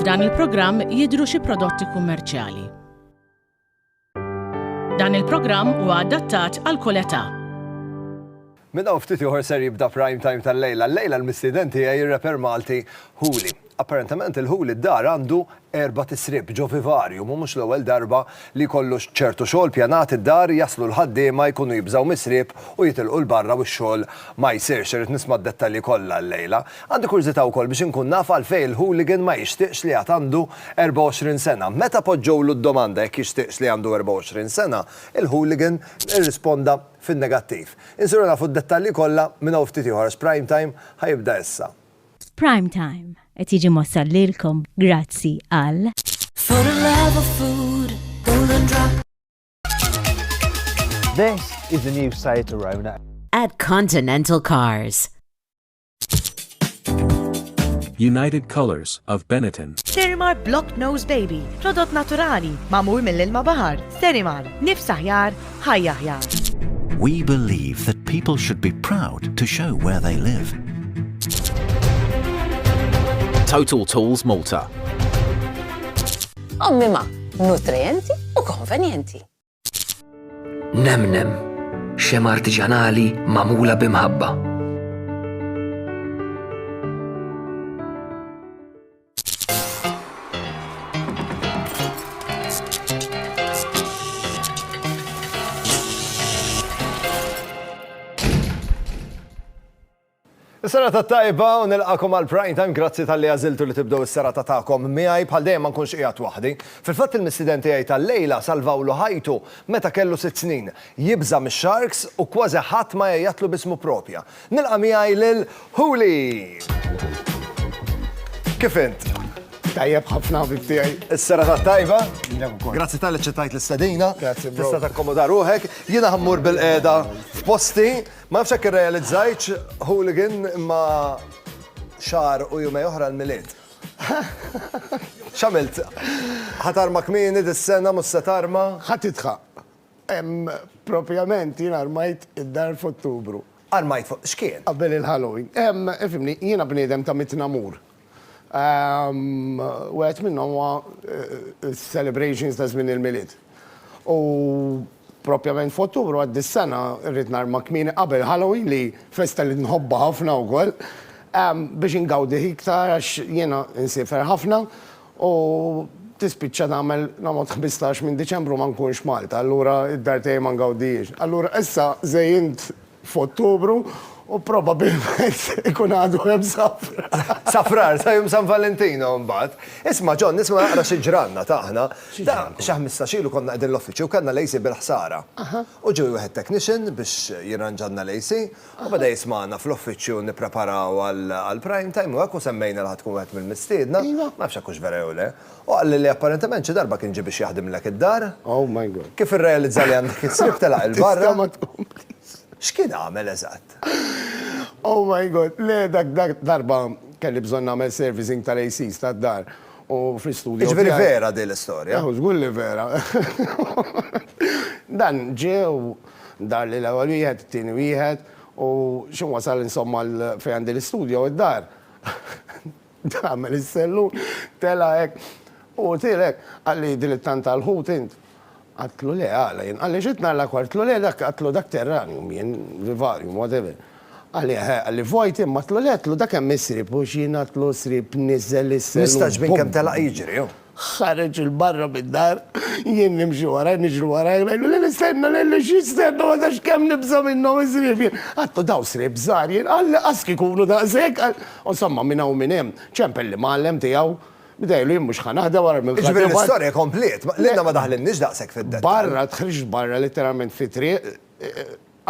F'dan il-programm jidhru xi prodotti kummerċjali. Dan il-programm huwa adattat għal kull età. Minn hawn ftit ieħor ser jibda Prime Time tal-lejla. Llejla l-mistieden tiegħi r-rapper Malti Hooli. Apparentement il-Ħu li dar għandu erba' tisrib ġo vivarium u mhux l-ewwel darba li jkollu ċertu xogħol pjanat id-dar, jaslu l-ħaddiema jkunu jibżgħu mis-sriep u jitilqu 'l barra u x-xogħol ma jsirx. Irrid nisma' d-dettalji kollha llejla. Għandi kurżità wkoll biex inkun naf għalfejn il-hooligan ma jixtieqx li għad għandu 24 sena. Meta poġġewlu d-domanda jekk jixtieqx li għandu 24 sena, il-hooligan irrisponda fin-negattiv. Insiru nafu d-dettalji kollha minn hawn ftit ieħor għax Prime Time ħa jibda issa. F'Prime Time qed jiġi mwassal lilkom grazzi għal. For the love of food, golden drop. This is the new Seat Arona. At Continental Cars. United Colors of Benetton. Sterimar Block Nose Baby, prodott naturali, mamul mill-ilma bahar. Sterimar, nifs aħjar, ħajja aħjar. We believe that people should be proud to show where they live. Total Tools Malta. Ommima, nutrienti u konvenjenti. Nemnem, xem artiġanali mamula bimħabba. Is-sena ta' tajba u nilqakom għal prime time grazzi tal-li għaziltu li tibdow is-sera ta' ta'kom miħaj bħal dejjem ma nkunx qiegħed waħdi. Fil-fatt il-missiden tiegħi tal-lejla salvawlu ħajtu meta kellu sitt snin. Jibża' mix-sharks u kważi ħadd ma għejjatlu bismu propja. Nilqa' miegħi lil Huli! Kif int? Tajjeb ħafna ħabib tiegħi. Is-serata t-tajba? Lilek ukoll. Grazzi tal-li ċċettajt l-istedina. Grazzi, bro. Tista' takkomoda ruħek. Jiena ħammur bil-qiegħda f'posti. Ma nafx hekk irrealizzajtx, Hooligan, imma xahar u jumej oħra l-Milied. X'għamilt? Ħa tarma kmieni dis-sena, mhux se tarma? Ħa tidħaq. Hemm propjament jiena rmajt id-dar f'Ottubru. Armajt fuq x'kien? Qabel il-Halloween. Hemm, ifhimni, jiena bniedem ta' mitt namur. Wieħed minnhom huwa s-celebrations ta' żmien il-Milied. U propjament f'Ottubru għad dis-sena rrid narma kmieni qabel Halloween li festa li nħobbha ħafna wkoll biex ingawdih iktar għax jiena insiefer ħafna U tispiċċa tagħmel, noqgħod ħmistax minn Diċembru ma nkunx Malta, allura d-dar tiegħi ma ngawdihiex. Allura issa żejjint f'Ottubru u probabilment ikun għadu hemm safrar. Safrar, sa jum San Valentino mbagħad. Isma' John, nisma' naqra xi ġranna ta' aħna. Ta' xi ħmistax ilu konna qegħdin l-uffiċċju u kellna l-AC bil-ħsara. U ġie wieħed technician biex jirranġalna l-AC U beda jismagħna fl-uffiċċju nippreparaw għall-prime time u hekk u semmejna li ħa tkun wieħed mill-mistiedna, ma nafx jekk hux vera jew le. U qalli li apparentement xi darba kien ġie biex jaħdimlek id-dar. Kif irrealizza li għandek is-sriep telaq 'il barra. X'kien għamel eżatt? Oh my God, le dak dak darba kelli bżonn nagħmel servicing tal-ACs tad-dar u fl-istudju tiegħi. Jiġifieri vera din l-istorja? Żgur li vera. Dan ġie u. Dar li l-ewwel wieħed, it-tieni wieħed, u xi wasal insomma l fejn għandi l-istudjo u d-dar. Tagħmel is-sellun, tela' hekk. U għotil hekk, qalli din it-tant tal-ħut int? Għadtlu le, għala jien? Qalli xi tnalla kwart? Għatlu le dak, għatlu dak terranium jien, vivarium, whatever. Qalli eħe, qalli vojt imma, għatlu le, għatlu dak hemm is-sriep u x'jien għatlu s-sriep niżel is-sellun. Nistgħaġbin kemm telaq jiġri hu. Ħareġ 'il barra mid-dar, jien nimxi warajh, niġri warajh, ngħidlu, lili stenna, lili x'jistenna, ma tafx kemm nibża' minnhom is-sriep jien. Għadtu dawn sriep żgħar jien, qal li qas kieku jkunu daqshekk, qal. U insomma minn hawn u minn hemm, ċempel l-imgħallem tiegħu, bdejlu jien mhux ħa naħdem wara l-mill-ħadem. Jiġifieri l-istorja kompliet, lilna ma daħlinniex daqshekk fid-dettall. Barra, ħriġt barra litteralment fit-triq,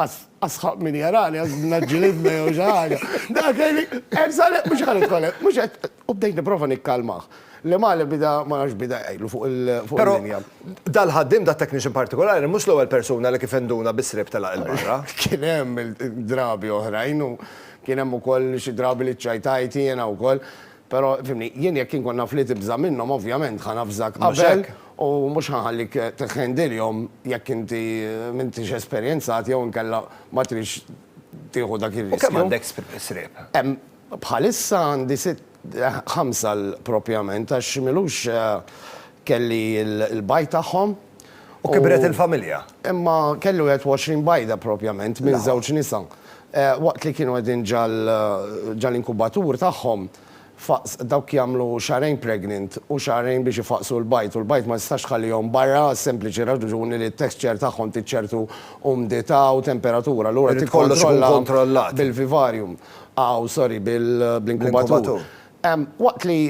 Asħaq min jarani, għaz naġġilidna jew xi ħaġa. Dak hemm sale mhux ħan itkolek, mhux qed u bdejt nipprova nikkalmah. Li male bida ma nafx bida jgħidlu fuq il-linja. Dal-ħaddiem da technician partikolari mhux l-ewwel persuna li kif induna bis-sriep telaq il barra. Kien hemm drabi oħrajn u kien hemm ukoll xi drabi li ċċajtajt jiena wkoll. Però, fhimni, jien jekk inkun naf li tibża' minnhom, ovvjament ħa navżak qabel u mhux ħa nħallik tħendilhom jekk inti m'intix esperjenzat jew inkella ma tridx tieħu dak ir-riskju. U kemm għandek sriep? Bħalissa għandi sitt, ħamsa propjament għax m'ilux kelli l-bajd tagħhom. U kibret il-familja. Imma kellu 21 bajda propjament minn żewġ nisa. Waqt li kienu qegħdin ġal-inkubatur tagħhom, dawk jagħmlu xahrejn pregnant u xahrejn biex ifaqqsu l-bajd u l-bajd ma tistax tħallihom barra għas-sempliċi raġuni li t-texture tagħhom trid ċertu umdità u temperatura, allura tikkontrolla bil-vivarium, aw sorry, bl-inkubatur. Waqt li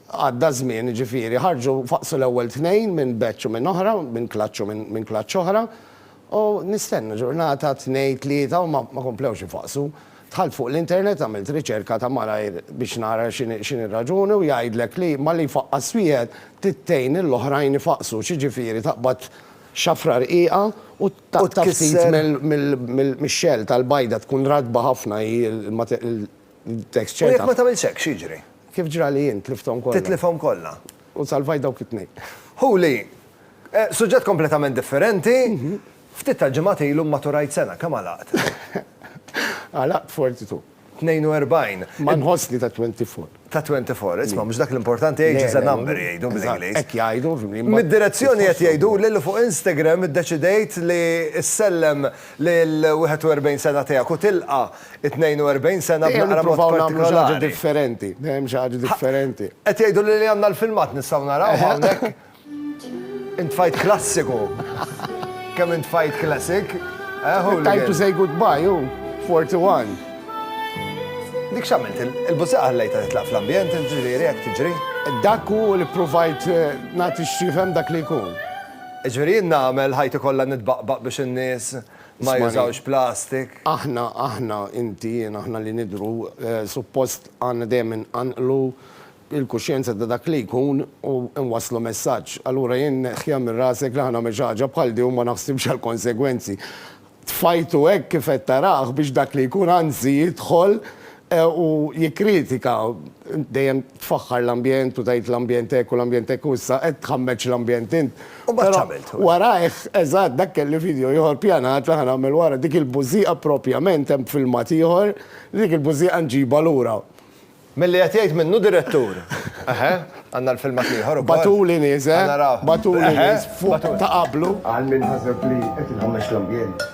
Għadda ż-żmien, ġifieri, ħarġu faqqsu l-ewwel tnejn minn batch u minn oħra, minn clutch u minn clutch oħra, u nistenna ġurnata, tnejn, tlieta u ma komplewx ifaqqsu. Dħalt fuq l-internet, għamilt riċerka ta' malajr biex nara x'inhi r-raġuni u jgħidlek li malli jfaqqas wieħed trid tgħin lill-oħrajn ifaqqsu, x'jiġifieri taqbad xafra rqiqa u taqta' ftit mix-shell tal-bajda, tkun ratba ħafna hi l-, Tekst ċert. U jekk ma tagħmilx hekk, x'jiġri? Kif ġra li jien tlifthom kollha. Titlifhom kollha. U salvajt dawk it-tnejn. Huli, suġġett kompletament differenti, ftit tal-ġimgħat ilu mmaturajt sena, kemm għalaqt? Għalaqt 42. 42. Ma nħossni ta' 24. Ta' 24, isma' mhux dak l-importanti age is a number jgħidu bl-Ingliż. Hekk jgħidu. Mid-direzzjoni qed jgħiduli li fuq Instagram iddeċidejt li ssellem lill-41 sena tiegħek u tilqa' 42 sena b'naqra mod partikolari. Dejjem nippruvaw nagħmlu xi ħaġa differenti. Dejjem xi ħaġa differenti. Qed jgħiduli li għandna l-filmat nistgħu naraw hawnhekk. Intfajt klassiku. Kemm intfajt classic. Time to say goodbye hu, 41. Dik x'għamilt? Il-bużieqa ħallejtha titlaq fl-ambjent, ġifieri hekk tiġri? Dak hu li ppruvajt nagħti x'jifhem dak li jkun. Ġifieri jien nagħmel ħajti kollha nitbaqbaq biex in-nies Ma jużawx plastik. Aħna, aħna, inti, jien, aħna li nidhru, suppost għandna dejjem inqanqlu l-kuxjenza ta' dak li jkun u nwasslu messaġġ. Allura jien neħħiha minn rasek li ħa nagħmel xi ħaġa bħal din u ma naħsibx għall-konsegwenzi. Tfajtu hekk kif qed tarah biex dak li jkun anzi jidħol U jikkritika, int dejjem tfaħħar l-ambjent u tgħid l-ambjent hekk u l-ambjent hekk u issa qed tħammeġ l-ambjent int. U mbagħad x'għamilt? Però warajh, eżatt, dak kelli video ieħor pjanat li ħa nagħmel wara, dik il-bużieqa propjament, hemm filmat ieħor, li dik il-bużieqa nġibha lura. Milli qed jgħid minnu direttur. Eħe, għandna l-filmat l-ieħor ukoll. Batuli nies, eh? Ħa naraw. Batuli nies, fuq ta' qablu. Għal min ħaseb li qed inħammeġ l-ambjent.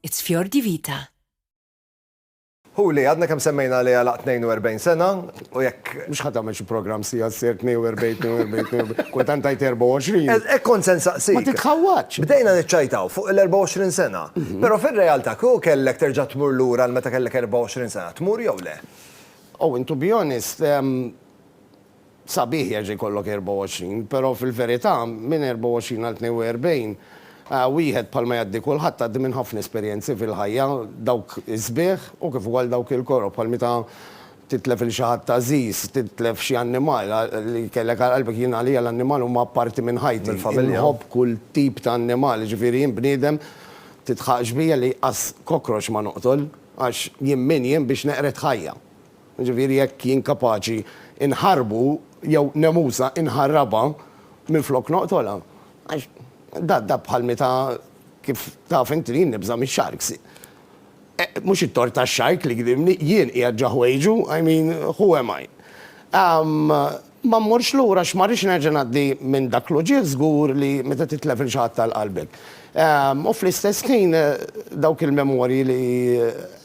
It's Fior di Vita. Huli, għadna kemm semmejna li għalaq 42 sena, u jekk. Mhux ħa tagħmel xi programm siegħa ssir 42, 42, 42, kultant tgħid 24. Hekk kont se nsaqsik. Ma titħawwadx. Bdejna niċċajtaw fuq il-24 sena, però fir-realtà kieku kellek terġa' tmur lura għal meta kellek 24 sena, tmur jew le? Oh, and to be honest, Sabiħ jerġa' jkollok 24, però fil-verità minn 24 għal 42, wieħed bħal ma jgħaddi kulħadd għaddi minn ħafna esperjenzi fil-ħajja, dawk is-sbieħ u kif ukoll dawk il-koroh, bħal meta titlef lil xi ħadd għażiż, titlef xi annimal li kellek għal qalbek, jien għalija l-annimal huma parti minn ħajti, inħobb kull tip ta' annimal, jiġifieri jien bniedem tidħaqx bija li as cockroach ma noqtol għax jien min jien biex neqred ħajja. Jiġifieri jekk jien kapaċi nħarrbu jew Nemusa inħarrabha minflok noqtolha. Għax da da bħal meta kif taf int li jien nibża' mix-sharks. Mhux it-tort tax-shark li gdimni, jien qiegħed ġo ħwejġu, I mean, who am I? Umm, ma mmorx lura għax ma rridx nerġa' ngħaddi minn dak l-uġigħ żgur li meta titlef lil xi ħadd għal qalbek. Umm, u fl-istess ħin dawk il-memorji li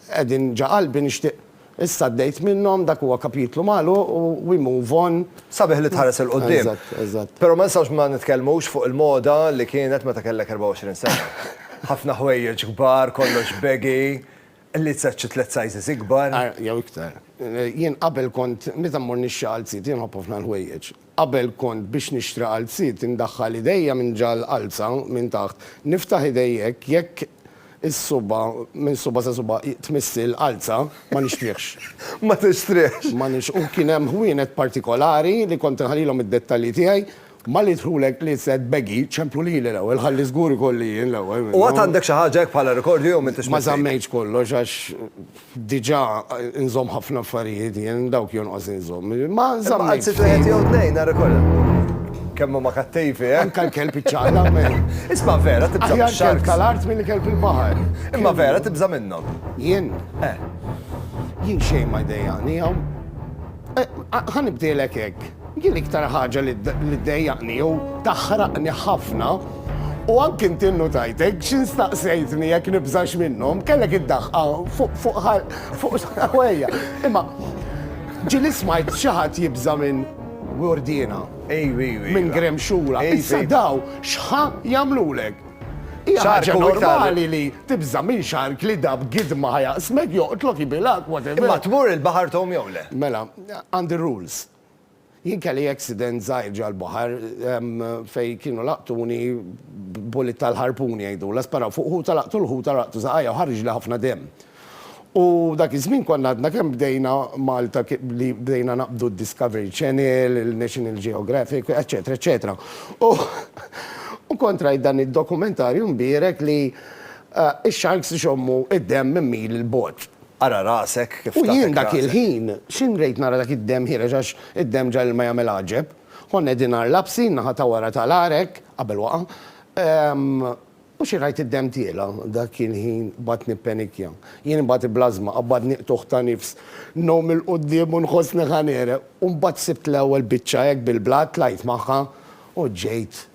qegħdin ġo qalbi nixtieq Issa għaddejt minnhom, dak huwa kapitlu magħluq u we move on. Sabiħ li tħares 'il quddiem. Eżatt, eżatt. Però ma nistgħux ma nitkellmux fuq il-moda li kienet meta kellek 24 sena. Ħafna ħwejjeġ kbar, kollox baggy, lizzet xi tliet sizes ikbar. Jew iktar. Jien qabel kont, meta mmur nixxi għal sid, jien nħobb ħafna l-ħwejjeġ. Qabel kont biex nixtri qalziet indaħħal idejja minn ġa l-qalza minn taħt, niftaħ idejja hekk jekk is-suba' minn suba' sa suba' tmiss il-qalza, ma nixtrihx. Ma tixtrihx. Ma nix u kien hemm ħwienet partikolari li kont inħallilhom id-dettalji tiegħi, malli jidħlulek li se tbeghi, ċemplu lili l-ewwel ħalli żgur ikolli jien l-ewwel minnhom. U għad għandek xi ħaġa hekk bħala rikordju jew m'intix mifid? Ma żammejtx kollox għax Diġà nżomm ħafna affarijiet jien, dawk jonqos inżomm. Ma nżamm. Imma qatt wieħed jew tnejn nhar ikollha. Kemm huma kattivi, eh? Anke l-kelb iċċaqlaq minn. Isma' vera tibża' mix-sharks. Aħjar kelb tal-art milli kelb il-baħar. Imma vera tibża' minnhom. Jien? Eh. Jien xejn ma jdejjaqni hawn. Ħa nibdielek hekk. Jien l-iktar ħaġa li ddejjaqni jew taħraqni ħafna u anki inti nnutajtek xi staqsejtni jekk nibżax minnhom, kellek id-daħqa fuq ħwejja. Imma ġieli smajt xi ħadd jibża' minn Gurdiena, minn Gremxura. Issa dawn x'ħa jagħmlulek? Hija ħaġa normali li tibża' minn xark li dab gidma ħajaqsmek, joqtlok, jibilgħek, whatever. Imma tmur il-baħar tgħum jew le? Mela, għandi r-rules. Jien kelli accident żgħir ġal-baħar fejn kienu laqtuni bullet tal-ħarpun jgħidulha, sparaw fuq ħuta laqtu l-ħuta laqtu żaqajja u ħarġli ħafna demm. U dak iż-żmien konna għadna kemm bdejna Malta li bdejna naqbdu d-Discovery Channel, il-National Geographic, eċċetera, eċċetera. U kont rajt dan id-dokumentarju mbierek li x-sharks ixommu d-demm minn mil 'il bogħod. Ara rasek kif tagħtek rasek. U jien dak il-ħin, x'in rejt nara dak id-demm ħiereġ għax id-demm ġa l-ilma jagħmel għaġeb. Konna qegħdin għar l-għabsin, naħa ta' wara tal-għar hekk, qabel waqa', U xi ngħid id-demm tiela', dak il-ħin baqgħet nippenikja. Jien imbagħad iblażma qabadni qtugħ ta' nifs, ngħum 'il quddiem u nħossni ħa negħreq. U mbagħad sibt l-ewwel biċċa hekk bil-blat, tlajt magħha u ġejt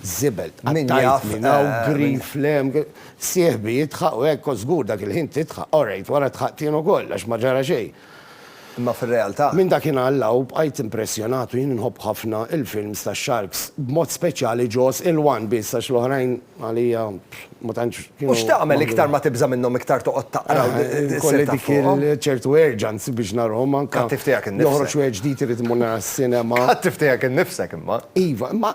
żibel. Tqattajt minn hawn, grief, le, sieħbi jidħaq u hekk, kont żgur dak il-ħin tidħaq. Orajt, wara dħaqt jien ukoll għax ma ġara xejn. Imma fir-realtà. Minn dakinhar 'l hawn bqajt impressjonat u jien nħobb ħafna il-films tax-sharks, b'mod speċjali Jaws il-one biss għax l-oħrajn għalija ma tantx kienu. U x'tagħmel iktar ma tibża' minnhom iktar toqgħod taqra u ssir taf fuqhom? Ikolli dik ċertu urgency biex narahom anke. Kattiv tiegħek innifsek. Joħroġ wieħed ġdid irid immur nara s-sinema. Kattiv tiegħek innifsek imma. Iva, imma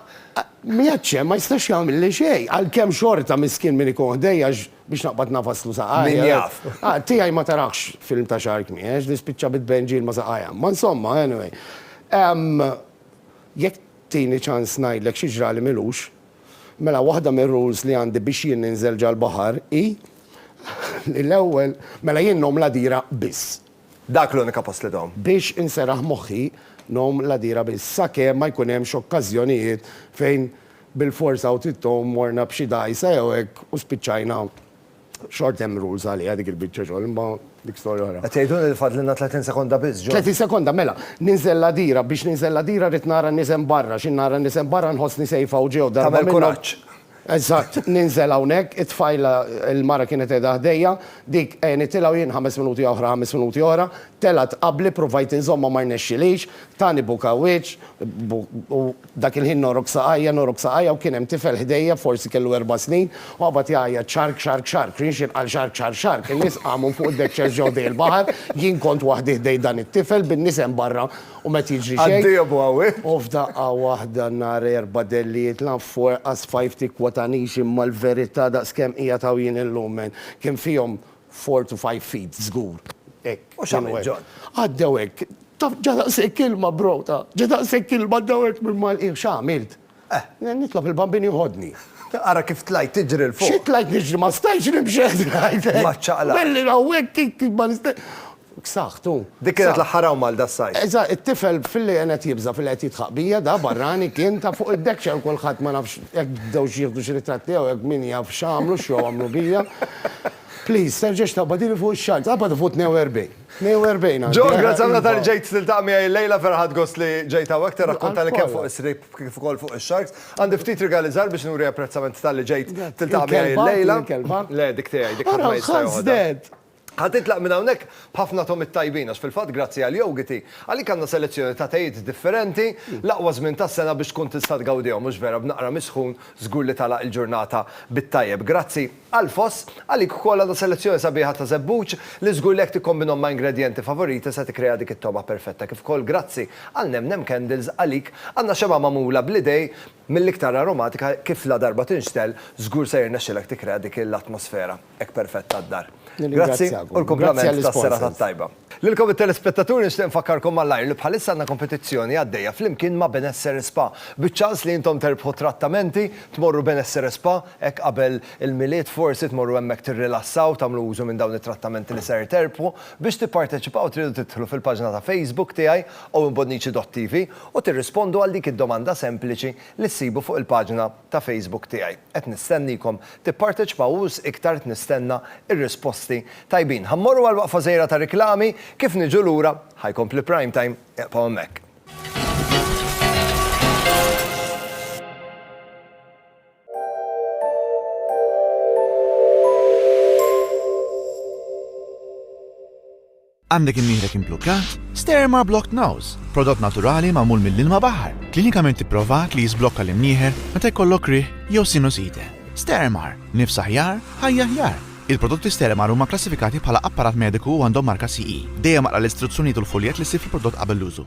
m'iegħedx hemm ma jistax jagħmilli xejn, għalkemm xorta miskien min ikun ħdejja għax Biex naqbad nafaslu saqajja. Min jaf. Ah, tiegħi ma tarax film ta' Shark Me, għax nispiċċa bit-tbenġil ma' saqajja. Ma insomma, anyway. Ehm, jekk tini ċans ngħidlek xi ġrali m'ilux, mela waħda mir-rules li għandi biex jien ninżel ġal-baħar hi li l-ewwel, mela jien ngħum l-għadira biss. Dak l-unika post li tgħum. Biex inseraħ moħħi ngħum l-għadira biss, sakemm ma jkun hemmx okkażjonijiet fejn Bilfors hawn tittu morna b'xi dgħajsa jew hekk u spiċċajna xort hemm rules għaliha dik il-biċċa xogħol imma dik storja oħra. Qed tgħiduli li fadlilna 30 sekonda biss, John? 30 sekonda, mela. Ninżel l-għadira, biex ninżel l-għadira rrid nara n-nies hemm barra, xi nara n-nies hemm barra nħossni safe hawn ġie u darba minnhom. Tagħmel kuraġġ. Eżatt, ninżel hawnhekk, it-tfajla, il-mara kienet qiegħda ħdejja, dik għenitilha u jien ħames minuti oħra, ħames minuti oħra, telgħet qabli, pruvajt inżommha ma rnexxilix, tani buka wiċċ, u, Dak il-ħin nogħrok saqajja, nogħrok saqajja u kien hemm tifel ħdejja, forsi kellu erba' snin, u qabad jgħajjat xark, xark, xark. Rienx jinqal xark, xark, xark. In-nies qamu minn fuq id-deckchairs ġew ħdej il-baħar, jien kont waħdi ħdej dan it-tifel, bin-nies hemm barra u m'qed jiġri xejn. Għad-diebu hawn! U f'daqqa waħda nhar erba' delli jitla' f'forqa sfajfti kwotanix imma l-verità daqskemm qiegħed hawn jien illum, men. Kien fihom Four to five feet żgur. Hekk. U x'għamilt John? Għaddew hekk. Taf ġa daqshekk ilma bro, ta. Ġa daqshekk ilma għaddew hekk minn Malqin. X'għamilt? Eh. Nitlob il-Bambin jieħodni. Ara kif tlajt tiġri 'l fuq. Xi tlajt niġri ma stajtx nimxi. Maċċaqlaq. Belli hawnhekk ma nista'. B'saħħtu. Dik kienet l-aħħar hawn Malta s-sajf. Eżatt, it-tifel filli kien qed jibża' filli qed jidħaq bija da barrani kien ta' fuq id-dekkxa u kulħadd ma nafx jekk bdewx jieħdu xi ritratt tiegħu jekk min jaf x'għamlu x'jew għamlu bija. Please, terġax taqbadili fuq ix-xagħar. Tqabad fuq 42. 42 għandi. John, grazzi ħafna talli ġejt tiltaqa' miegħi illejla, vera ħadt gost li ġejt hawnhekk tirrakkuntali kemm fuq is-srejb kif ukoll fuq ix-sharks. Għandi ftit rigali żgħar biex nuri apprezzament talli ġejt tiltaqa' miegħi illejla. Il-kelba tiegħek, il-kelba? Le, dik tiegħi, dik ħadd ma jista' joħodha. Ara, ħasdet! Ħa titlaq minn hawnhekk b'ħafna togħmiet tajbin għax fil-fatt grazzi għal Yogiti, għalik għandna selezzjoni ta' tejiet differenti, l-aqwa żmien tas-sena biex tkun tista' tgawdihom, mhux vera, b'naqra misħun żgur li tagħlaq il-ġurnata bit-tajjeb. Grazzi għal Foss, għalik ukoll għandna selezzjoni sabiħa ta' żebbuġ li żgur li jekk tikkombinhom ma' ingredjenti favoriti se tikkrea dik it-togħma perfetta kif ukoll grazzi għal Nem Nem Candles għalik għandna xemgħa magħmula bl-idej Mill-iktar aromatika kif ladarba tinxtegħel żgur se jirnexxilek tikkrea dik l-atmosfera hekk perfetta għad-dar. Grazzi u l-kumplament tas-serata t-tajba. Lilkom it-telespettaturi nixtieq infakkarkom malajr li bħalissa għandna kompetizzjoni għaddejja flimkien ma' Benessere Spa biċ-ċans li intom terbħu trattamenti, tmorru Benessere Spa hekk qabel il-Milied forsi tmorru hemmhekk tirrilassaw tagħmlu użu minn dawn it-trattamenti li ser terbħu. Biex tipparteċipaw tridu tidħlu fil-paġna ta' Facebook tiegħi Owen Bonnici dott TV u tirrispondu għal dik id-domanda sempliċi li ssibu fuq il-paġna ta' Facebook tiegħi. Qed nistenniekom tipparteċpaw u wisq iktar qed nistenna r-risposti tajbin. Ħa mmorru għal waqfa żgħira ta' riklami, kif niġu lura ħa jkompli Prime Time, iqfgħu hemmhekk. Għandek imnieħrek imblukkat? Sterma Blocked Nose, prodott naturali magħmul mill-ilma baħar, klinikament ipprovat li jiżblokka l-imnieħer meta jkollok riħ jew sinusite. Stermar, nifs aħjar, ħajja aħjar. Il-prodotti Stermar huma kklassifikati bħala apparat mediku u għandhom marka CE. Dejjem aqra l-istruzzjonijiet u l-fuljett li ssib fil-prodott qabel l-użu.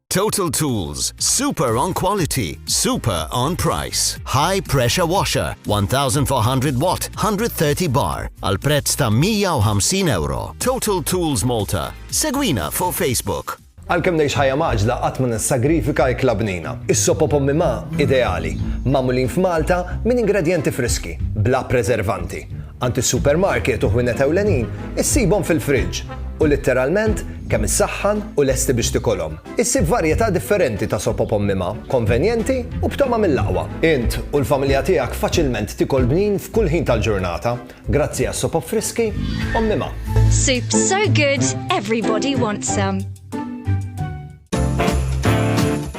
Total Tools, super on quality, super on price. High pressure washer, 1400 watt, 130 bar, al prezz ta' 150 euro. Total Tools Malta. Segwina fuq Facebook. Għalkemm ngħix ħajja maġla qatt ma nissagrifika ikla bnina. Is-sopo pommi ma ideali, magħmulin f'Malta minn ingredjenti friski, bla preservanti. Għand is-supermarket u ħwienet ewlenin issibhom fil-friġġ u litteralment kemm issaħħan u lesti biex tikolhom. Issib varjetà differenti ta' sop op ommima, konvenjenti u b'togħma mill-aqwa. Int u l-familja tiegħek faċilment tikol bnin f'kull ħin tal-ġurnata grazzi għas-sop op friski ommima. Soup so good, everybody wants some.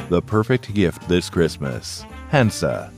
The perfect gift this Christmas. Hansa.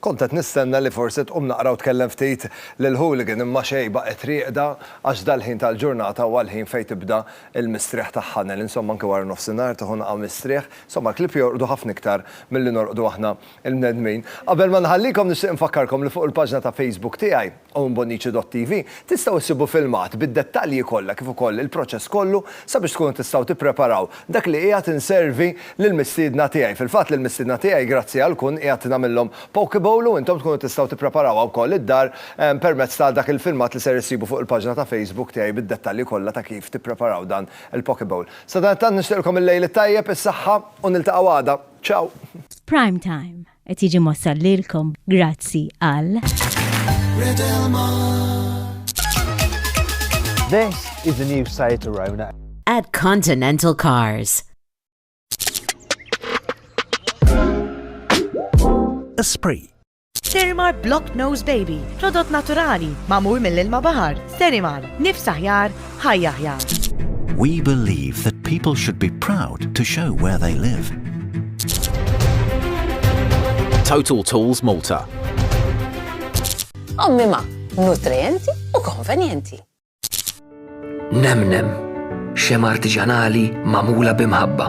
Kont qed nistenna li forsi tqum naqra u tkellem ftit lil Hooligan imma xejn baqgħet rieqda għax dal-ħin tal-ġurnata huwa l-ħin fejn tibda l-mistrieħ tagħha Nell. Insomma anke wara nofsinhar tieħu naqgħa mistrieħ. Insomma l-klieb jorqdu ħafna iktar milli norqdu aħna l-bnedmin. Qabel ma nħallikom nixtieq infakkarkom li fuq il-paġna ta' Facebook tiegħi Hawn Bonnici.TV tistgħu issibu filmat bid-dettalji kollha kif ukoll il-proċess kollu sabiex tkunu tistgħu tippreparaw dak li qiegħed inservi lill-mistiedna tiegħi. Fil-fatt lill-mistiedna tiegħi grazzi għal kun qiegħed nagħmillhom poke bowl u intom tkunu tistgħu tippreparawha wkoll id-dar permezz ta' dak il-filmat li ser issibu fuq il-paġna ta' Facebook tiegħi bid-dettalji kollha ta' kif tippreparaw dan il-poke bowl. Sadanittant nixtieqlkom il-lejl it-tajjeb, is-saħħa u niltaqgħu għada. Ciao! F'Prime Time. Qed jiġi mwassal lilkom grazzi għal. This is the new Seat Arona. At Continental Cars. Esprit. Sterimar Block Nose Baby, prodott naturali, mamur mill-ilma bahar. Sterimar, nifsaħjar, ħajja aħjar. We believe that people should be proud to show where they live. Total Tools Malta. Ommima, nutrienti u konvenjenti. Nemnem, xem artiġanali mamula bimħabba.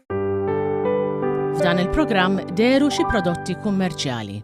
F'dan il-programm deru xi prodotti kummerċjali.